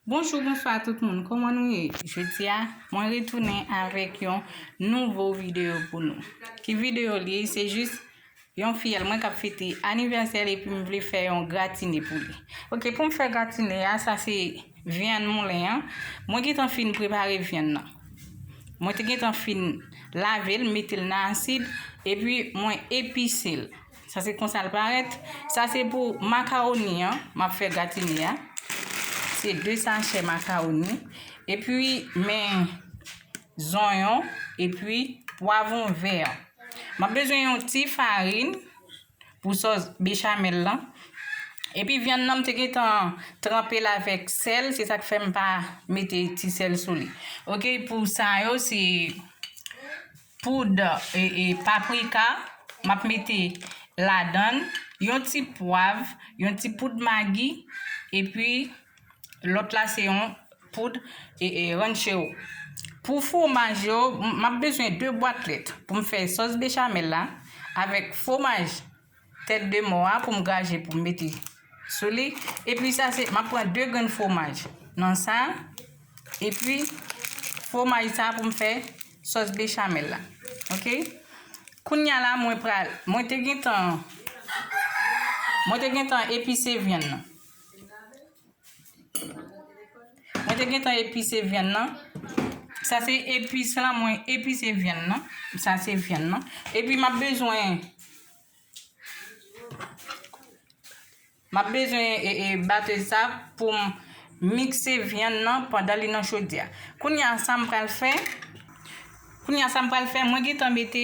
Bonjou, bonswa tout moun, kouman nou ye? Jodi a, mwen retounen avèk yon nouvo videyo pou nou. Ki videyo li, se jis yon fiyèl mwen kap fete anivèsèl epi m vle fè yon gratine pou li. Ok, pou m fè gratine a, sa se vyann moulen an. Mwen gentan fin prepare vyann nan. Mwen te gentan fin lave l, mete l nan asid, epi mwen epise l. Sa se konsa l parèt. Sa se pou makawoni an m ap fè gratine a. Se 2 sachè makawoni. Epi men zonyon epi pwavon vè. M ap bezwen yon ti farin pou sòs bechamèl lan. Epi vyann nan m te gentan tranpe l avèk sèl. Se sa k fè m pa mete ti sèl sou li. Ok pou sa yo se Poud paprika m ap mete ladan l, yon ti pwav, yon ti poud magi epi lòt la se yon poud ranchero. Pou fwomaj yo, m ap bezwen 2 bwat lèt pou m fè sòs bechamel la avèk fwomaj. Tèt de mò a pou m graje pou m mete sou li. Epi sa se, m ap pran 2 grenn fwomaj nan sa. Epi fwomaj sa pou m fè sòs bechamèl la. Ok. Kounya la mwen pral, mwen te gentan, mwen te gentan epise vyann nan. Mwen te gentan epise vyann nan. Sa se epis la mwen epise vyann nan. Sa se vyann nan. E pi m ap bezwen... M ap bezwen e, e, bate sa pou m mikse vyann nan pandan li nan chodyè a. Kounye a sa m pral fè... Kounya sa m pral fè mwen gentan mete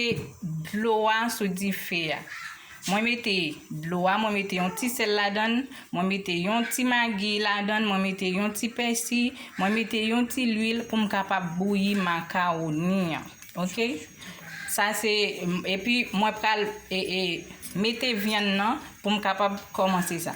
dlo a sou dife a mwen mete dlo a mwen mete yon ti sèl ladann mwen mete yon ti magi ladann mwen mete yon ti pèsi mwen mete yon ti lwil pou m kapab bouyi makaroni an ok sa se epi mwen pral e e mete vyann nan pou m kapab kòmanse sa.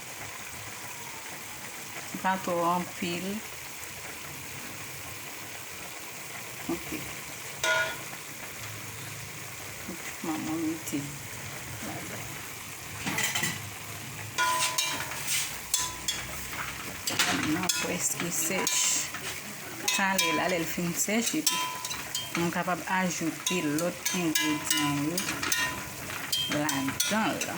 Pa twò anpil. Ok. Mwen mwen mete. Mwen preske sech. Kale la lèl fin sech. Mwen kapab ajoute lòt enje dyan yo. Lan dan la.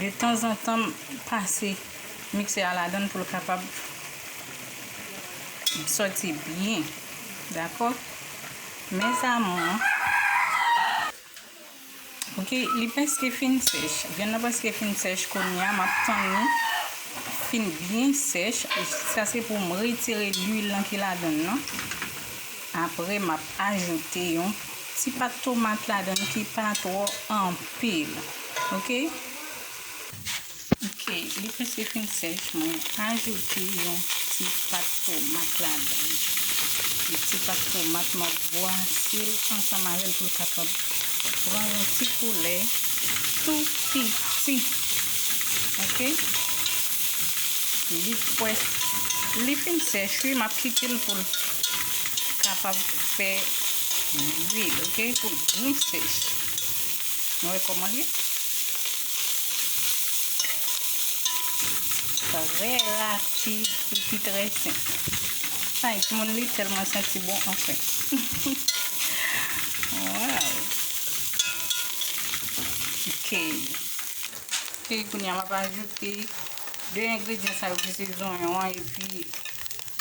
De tan zan tan pase mikse a la dan pou l kapab soti byen. Dakò? Mèzamou. Ok li preske fin sèch vyann nan preske fin sèch kounya map tann li fin byen sèch sa se poum retire lwil lan ki ladann nan apre map ajoute yon ti pat tomat ladann ki pa twò anpil ok. Ok li preske fin sèch mwen ajoute yon ti pat tomat ladan l yon ti pat tomat map bwase l ansanm avèl pou l kapab pran yon ti koulè tou piti ok li pwès li fin sèch wi map kite l pou l kapab fè lwil ok pou l byen sèch. Nou wè kòman l ye? Trè rapid epi trè senp. Ay, timoun li tèlman santi bon anfen. Waw! Ok. Ok, kounya m ap ajoute 2 engredyan sa yo ki se zonyon an epi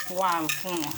pwavon an.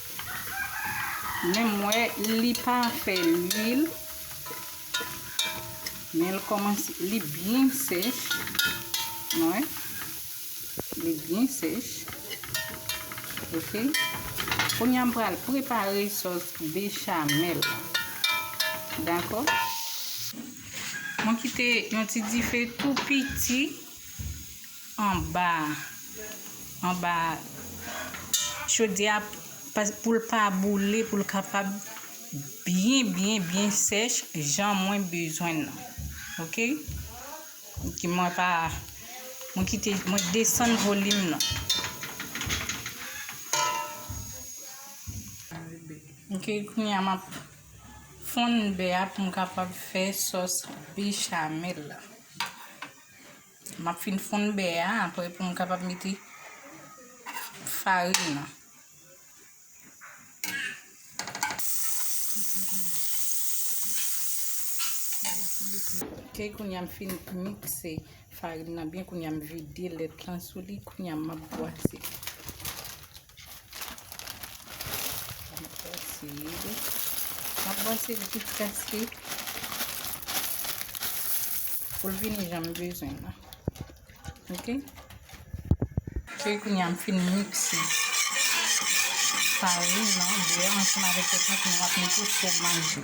Menm wè li pa fè lwil. Men l kòmanse, li byen sèch. Nou wè? Li byen sèch. Ok. Kounye a m pral prepare sòs bechamel la. Dakò? Mwen kite yon ti dife tou piti. anba anba chodyèa poul pa boule poul kapab byen byen byen sèch jan mwen bezwen nan ok ki mwen pa mwen kite mwen desann volim nan ok kounya map fonn bè a poum kapab fè sòs bichamèl la. Map fin fonn bè a apre pou m kapab mete farin nan. Ok kounye a m fin mikse farin nan byen kounye a m vide lèt lan sou li kounye a map bwase. Mwen bwase li tout kaske pou l vini jan m bezwen la. Ok? Fè kou nyan m fin miksi. Farin nan, bè, ansanm avèk pèpèt mwen ap mete fwomaj yo.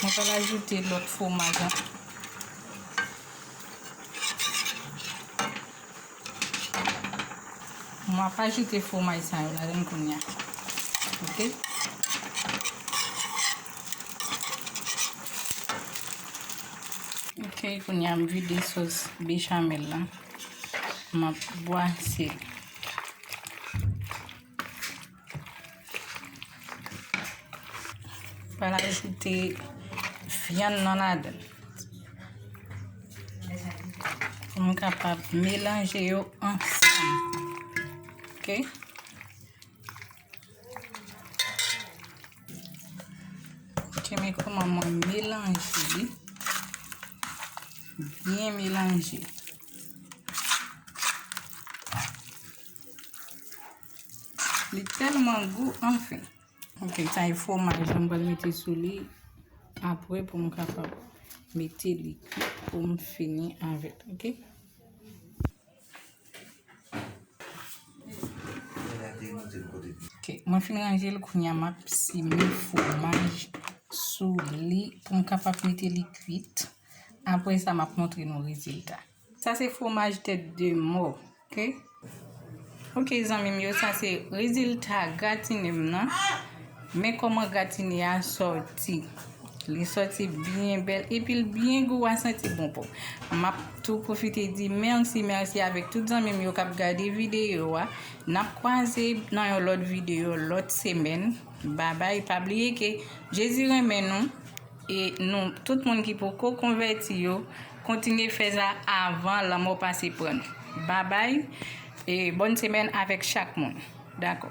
Mwen pral ajoute lòt fwomaj la. Mwen ap ajoute fwomaj sa yo ladan l kounya. Ok. Ok, kounya m vide sos bechamel la. M ap bwase. Pral ajoute vyann nan ladan. Pou nou kapab melanje yo ansan. Ok? Ok, men kouman mwen melanje li. Byen melanje. Li telman gou anfen. Ok sa e fwomaj la m pral mete sou li apre pou m kapab mete li kwit pou m fini avè l ok. Ok mwen fin ranje l kounya m ap sime fwomaj sou li pou m kapab mete li kwit apre sa m ap montre nou rezilta. Sa se fwomaj tèt de mò ok. Ok zanmim yo sa se rezilta gratinem nan men koman gratine a sòti li sòti byen bèl epil byen gou wa santi bon pou map tou pwofite di mèsi mèsi avèk tout zanmim yo kap gade videyo wa nap kwaze nan yon lòt videyo lòt semèn babay pa bliye ke jezi renmen nou e nou tout moun ki poko konvèti yo Kontinye fè sa avan lanmò pase pran nou. Babay e bòn semèn avèk chak moun. Dakò.